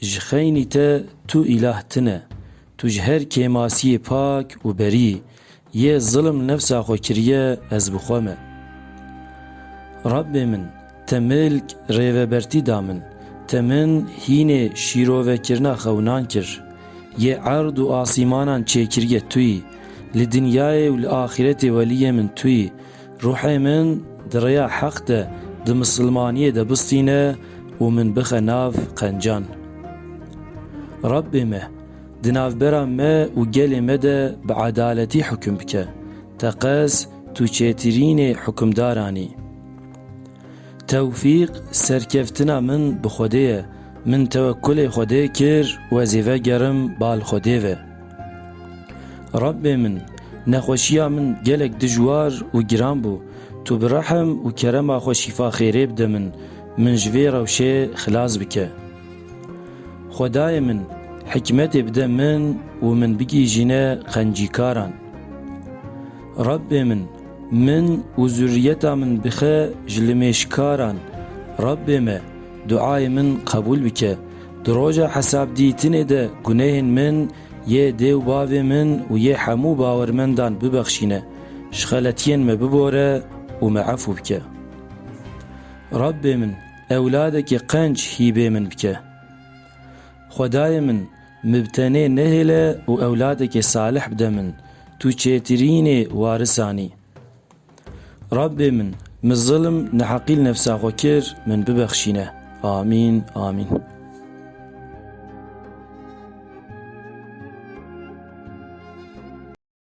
Ji xeynî te tu îlah tune. Tu ji her kêmasiyê pak û berî yê zilm nefsa xwe kiriye ez bi xwe me. Rabbê min te milk rêvebertî da min, te min hînê şîrovekirina xewinan kir. Yê erd û asîmanan çêkiriye tu yî, li dinyayê û li axîretê weliyê min tu yî, Ruhê min di rêya heq de di misilmaniyê de bistîne û min bixe nav qencan. Rabbê me, di navbera me û gelê me de bi edaletî hukim bike, teqez Tu Çêtirînê hukimdaran î. Tewfîq, Serkeftina min bi Xwedê ye. Min tewekkulê Xwedê kir wezîfe gerim bal Xwedê ve. Rabbê min, nexweşiya min gelek dijwar û giran bû, tu bi rehm û kerema xwe şîfa xêrê bide min, min ji vê rewşê xilas bike. Xwedayê min, hikmetê bide min û min bigihîjîne qencîkaran. Rabbê min, min û zurriyeta min bixe ji limêjkaran. Rabbê me, duayê min qebûl bike. Di roja hesabdîtinê de gunehên min yê dê û bavê min û yê hemû bawermendan bibexşîne. Ji xeletiyên me bibore û me efû bike. Rabbê min, ewladekî qenc hîbê min bike. Xwedayê min, Mi bi tenê nehêle û ewladekê salih bide min, tu çêtirînê warisan î. Rabbê min, mi zilm, neheqî li nefsa xwe kir, min bibexşîne. Amîn. Amîn.